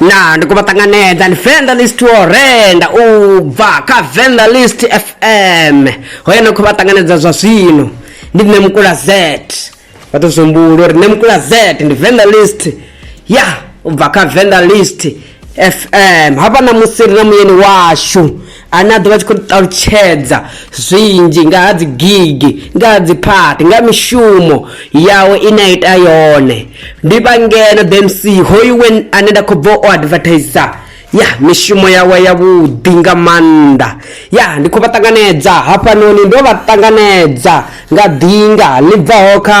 na ndi khou vha ṱanganedza ndi venḓa list wo renda u bva kha venḓa list fm hoyo no khou vha ṱanganedza zwa zwino ndi nṋe mukula z vha tou zwihumbula uri nṋe mukula z ndi venḓa list ya u bva kha venḓa list fm hafha na musi ri na muyeni washu ane a ḓo vha tshi khou ṱalutshedza zwinzhi nga ha dzigigi nga ha dziphathi nga mishumo yawe ine a ita yone ndi vha ngeno the mc hoyu we ane nda khou bva u advertisa ya mishumo yawe yavhuḓi nga maanḓa ya ndi khou vha ṱanganedza hafhanoni ndo vha ṱanganedza nga ḓinga ḽi bvaho kha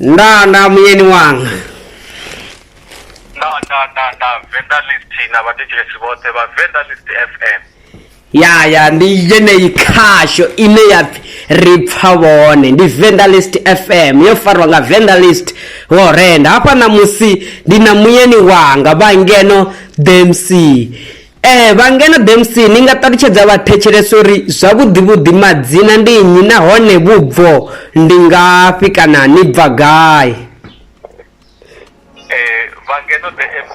nda nda muyeni wanga nda nda nda nda vendelist na vhathetshelesi vhoṱhe vha vendelist fm ya ya ndi yeneyi khasho ine ya pfi ri pfa vhone ndi vendalist fm yo farwa nga vendalist wo renda hafha namusi ndi na muyeni wanga vha ngeno dmc ee vha ngeno dmc ni nga ṱalutshedza vhathetshelesa uri zwavhuḓivhuḓi madzina ndi nnyi nahone vhubvo ndi ngafhi kana ni bva gai eh vhangeno the mc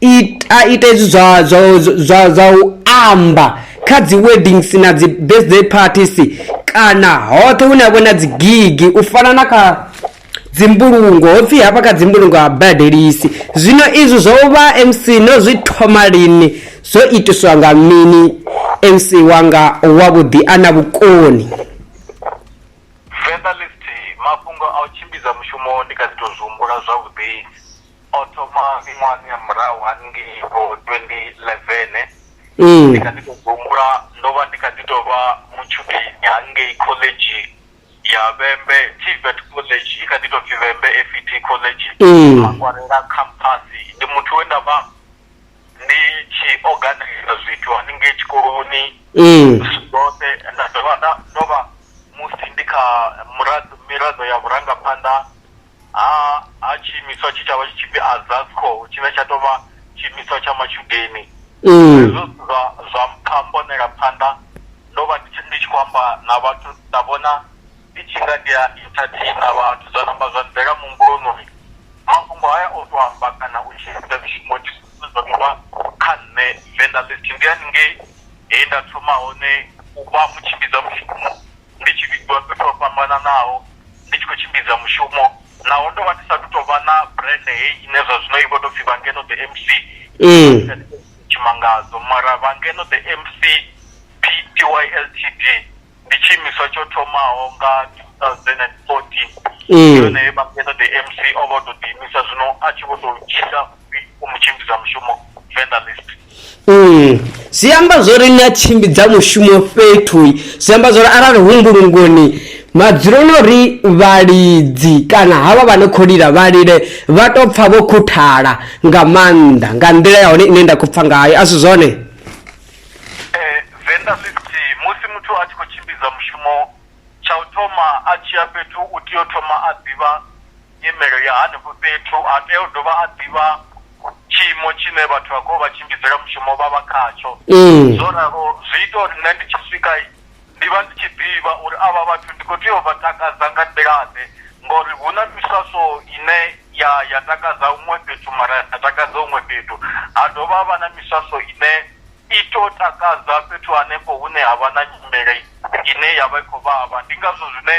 Ita ita hezwi zwa zwa zwa zwa u amba kha dzi weddings na dzi birthday parties kana hoṱhe hune ha vha na dzi gigi u fana na kha dzi mbulungo hopfi hafha kha dzi mbulungo ha badelisi zwino izwi zwo vha MC no zwi thoma lini zwo itiswa nga mini MC wanga wa vhuḓi a na vhukoni Venḓa list mafhungo a u tshimbidza mushumo ndi kha ḓi to zwi humbula zwavhuḓi o thoma miṅwahani ya murahu haningei vho 2011 mm. ndi kha ḓi tou humbula ndo vha ndi kha ḓi tou vha mutshudeni hangei khoḽedzhi ya vhembe tibet college i kha ḓi tou pfi vhembe fet college mm. makwarela campasi ndi muthu we nda vha ndi tshi organisa zwithu haningei tshikoloni mm. zwoṱhe nda dovha ndo vha musi ndi kha miraḓo ya vhurangaphanḓa ha ha tshiimiswa tshi tshavha tshi tshipfi azasco tshine tsha tou vha tshiimiswa tsha matshudeni ee zwo zwa zwa mpha mponela phanḓa ndo vha ndi tshi ndi tshi khou amba na vhathu nda vhona ndi tshi nga ndi a entertain na vhathu zwa namba zwa ḓela muhumbuloni uri mafhungo haya o to amba kana u tshi ita mishumo ndi zwithu zwine zwa tovha kha nṋe venḓa list ndi haningei he nda thoma hone u vha mutshimbidza mushumo ndi tshi vhidziwa fhethu ho fhambananaho ndi tshi khou tshimbidza mushumo naho ndo vha ndi sathu tou vha na brand heyi ine zwa zwino i vho tou pfhi vha ngeno the MC Tshimangadzo mara vha ngeno the MC PTY Ltd ndi tshi imiswa tsho thomaho nga 2014 ndi hone he vha ngeno the MC o vho tou ḓi imisa zwino a tshi vho tou tshila u mu tshimbidza mushumo venḓa list Mm. zwi amba zwori ni a tshimbidza mushumo fhethu zwi amba zwori arali hu mbulungoni madzuloni uri vhalidzi kana havha vha ne khou lila vha lile vha tou pfha vho khuthala nga maanḓa nga nḓila ya hone ine nda khou pfha ngayo a si zwone eh, venḓa list musi muthu a tshi khou tshimbidza mushumo tsha u thoma a tshi ya fhethu u tea u thoma a ḓivha nyimele ya hanefho fhethu, a tea u dovha a ḓivha tshiimo tshine vhathu vha khou vha tshimbidzela mushumo vha vha khatsho. Zwo ralo zwi ita uri nṋe ndi tshi swika ndi vha ndi tshi ḓivha uri avha vhathu ndi kho tea u vha takadza nga nḓila ḓe ngori hu na miswaswo ine ya ya takadza huṅwe fhethu mara ya sa takadza huṅwe fhethu, ha dovha ha vha na miswaswo ine i to takadza fhethu hanefho hune ha vha na nyimele ine ya vha i khou vhavha ndi ngazwo zwine.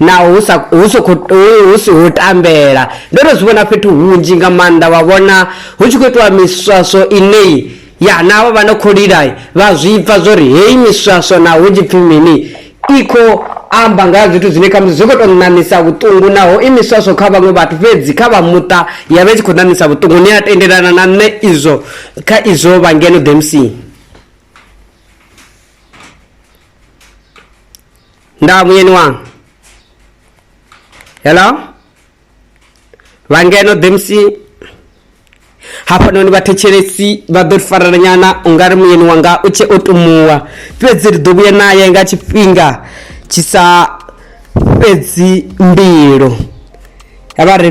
naho hu sa hu si khou hu- hu si hu tambela ndo no zwi vhona fhethu hunzhi nga maanḓa vha vhona hu tshi khou itiwa miswaswo inei ya na havha vha no khou lila vha zwi pfa zwo ri heyi miswaswo na hu tshi pfi mini i khou amba nga ha zwithu zwine khamusi zwi khou tou ṋaṋisa vhuṱungu naho i miswaswo kha vhaṅwe vhathu fhedzi kha vha muṱa ya vha i tshi khou ṋaṋisa vhuṱungu ni a tendelana na nṋe izwo kha izwo vha ngeno demsini nda munyeni wanga hello vhangeno dmc hafhanoni vhathetshelesi vha ḓo ri farelanyana u nga ri muyeni wanga u tshe o tumuwa fhedzi ri ḓo vhuya naye nga tshifhinga tshi sa fhedzi mbilo ya vha ri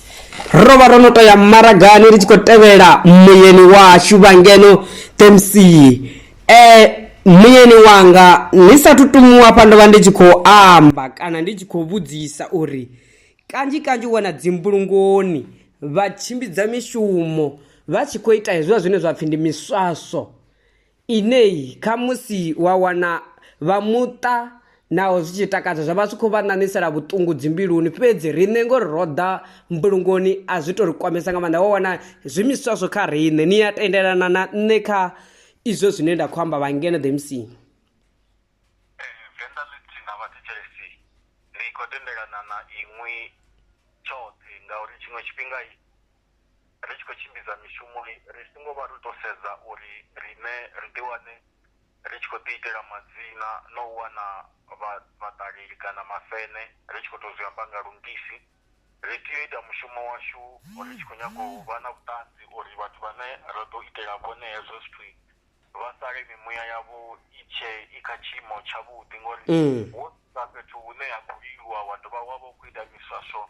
ro vha ro no to ya maragani ri tshi khou tevhela muyeni washu vha ngeno temsii eh muyeni wanga ni sa tutumuwa hafha ndo vha ndi tshi khou amba kana ndi tshi khou vhudzisa uri kanzhi kanzhi wana dzimbulungoni vha tshimbidza mishumo vha tshi khou ita hezwiḽa zwine zwa pfhi ndi miswaso Inei khamusi wa wana vha muṱa naho zwi tshi takadza zwa vha zwi khou vha ṋaṋisela vhuṱungu dzi mbiluni fhedzi riṋe ngori ro ḓa mbulungoni a zwi to ri kwamesa nga maanḓa wa wana zwi miswa zwo kha riṋe ni a tendelana na nṋe kha izwo zwine nda khou amba vha ngeno the MC. Venḓa ḽi si na vhathetshelesi ndi khou tendelana na inwi tshoṱhe ngauri tshiṅwe tshifhinga ri tshi khou tshimbidza mishumo ri songo vha ri tou sedza uri riṋe ri ḓi wane ri tshi khou ḓi itela madzina na u wana vhaṱaleli kana mafene ri tshi khou tou zwi amba nga lungisi. Ri tea u ita mushumo washu ri tshi khou nyaga u vha na vhuṱanzi uri vhathu vhane ra ḓo itela vhone hezwo zwithu vha sale mimuya yavho i tshe i kha tshiimo tshavhuḓi ngori Mm. wo sa fhethu hune ha khou lilwa wa dovha wa vha u khou ita miswaswo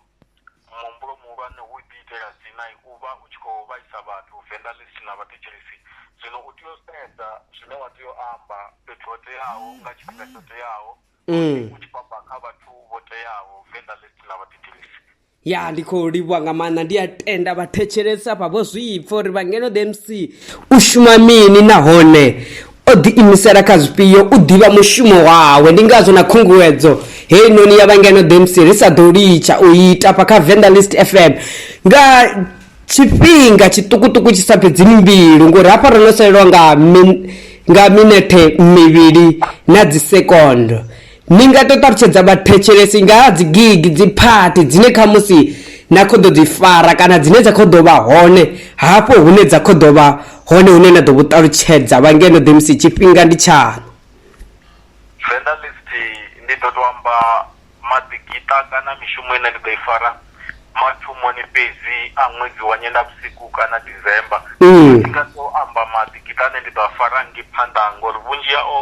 muhumbulo muhulwane hu ḓi itela dzina u vha u tshi khou vhaisa vhathu venḓa ḽi si na vhathetshelesi zwino u tea u sedza zwine wa tea u amba fhethu ho teaho nga tshifhinga tsho teaho Mm. u tshi khou amba kha vhathu vho teaho venḓa ḽi si na vhathetshelesi ya ndi khou livhuwa nga maanḓa ndi a tenda vhathetshelesi afha vho zwipfa uri vhangeno the mc u shuma mini nahone o ḓiimisela kha zwifhio u ḓivha mushumo wawe ndi ngazwo na khunguwedzo heyi noni ya vhangeno the mc ri sa ḓo litsha u ita fha kha venda list fm nga tshifhinga tshiṱukuṱuku tshi sa fhedzi mbilu ngori hafha ro no salelwa nga min, nga minethe mivhili na dzisekondo Ni nga tou ṱalutshedza vhathetshelesi nga ha dzigigi, dziphathi dzine khamusi na khou ḓo dzi fara kana dzine dza khou ḓo vha hone hafho hune dza khou ḓo vha hone hune na ḓo vhu ṱalutshedza vha ngeno ḓemusi tshifhinga ndi tshaṋu? Venḓa List Ndi ḓo tou amba maḓigiṱa kana mishumo ine ndi ḓo i fara mathomoni fhedzi a ṅwedzi wa Nyendavhusiku kana December. Ndi nga tou amba maḓigiṱa ane ndi ḓo a fara hangei phanḓa ngori vhunzhi hao.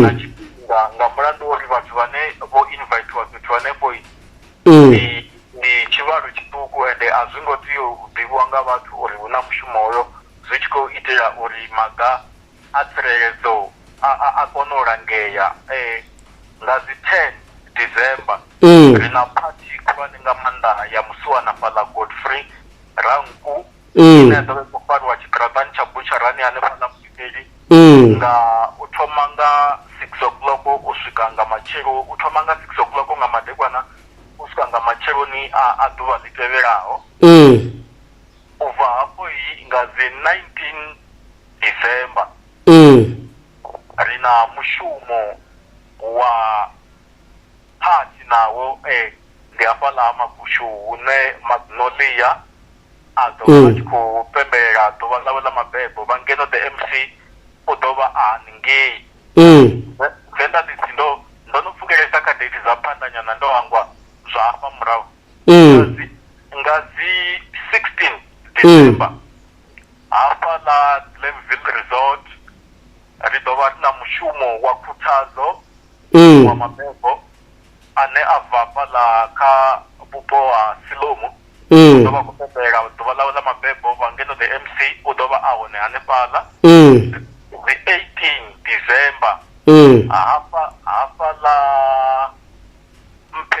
nga tshifhinga nga mulandu wa uri vhathu vhane vho invithiwa fhethu hanefho ndi ndi tshivhalo tshiṱuku ende a zwi ngo tea u ḓivhiwa nga vhathu uri hu na mushumo hoyo zwi tshi khou itela uri maga a tsireledzo a a kone u langea nga dzi ten December ri na phathi khulwane nga maanḓa ya musiwana fhaḽa Godfrey Ranku. ine ya ḓovha i khou fariwa tshiṱiraṱani tsha butsharani hanefhaḽa mudimeli nga u thoma nga six o'clock u swika nga matshelo u thoma nga six o'clock nga madekwana u swika nga matsheloni a ḓuvha ḽi tevhelaho u bva hafho yi nga dzi 19 december ri na mushumo wa phathi nawo um ndi hafhaḽa ha makushu hune madzinoḽia a ḓo vha a tshi khou pembelela ḓuvha ḽawe ḽa mabebo vha ngeno the MC u ḓo vha a haningei. Zwe zwe nda ḓi si ndo ndo no pfukelesa kha date dza phanḓa nyana ndo hangwa zwa hafha murahu. Nga dzi nga dzi 16 December hafha ḽa Glenville Resort ri ḓo vha ri na mushumo wa khuthadzo wa mabebo. ane a bva hafhaḽa kha vhupo ha Silomu u ḓo vha khou pembela ḓuvha ḽawe ḽa mabebo vha ngeno the MC u ḓo vha a hone hanefhaḽa dzi 18 December hafha hafhaḽa mphe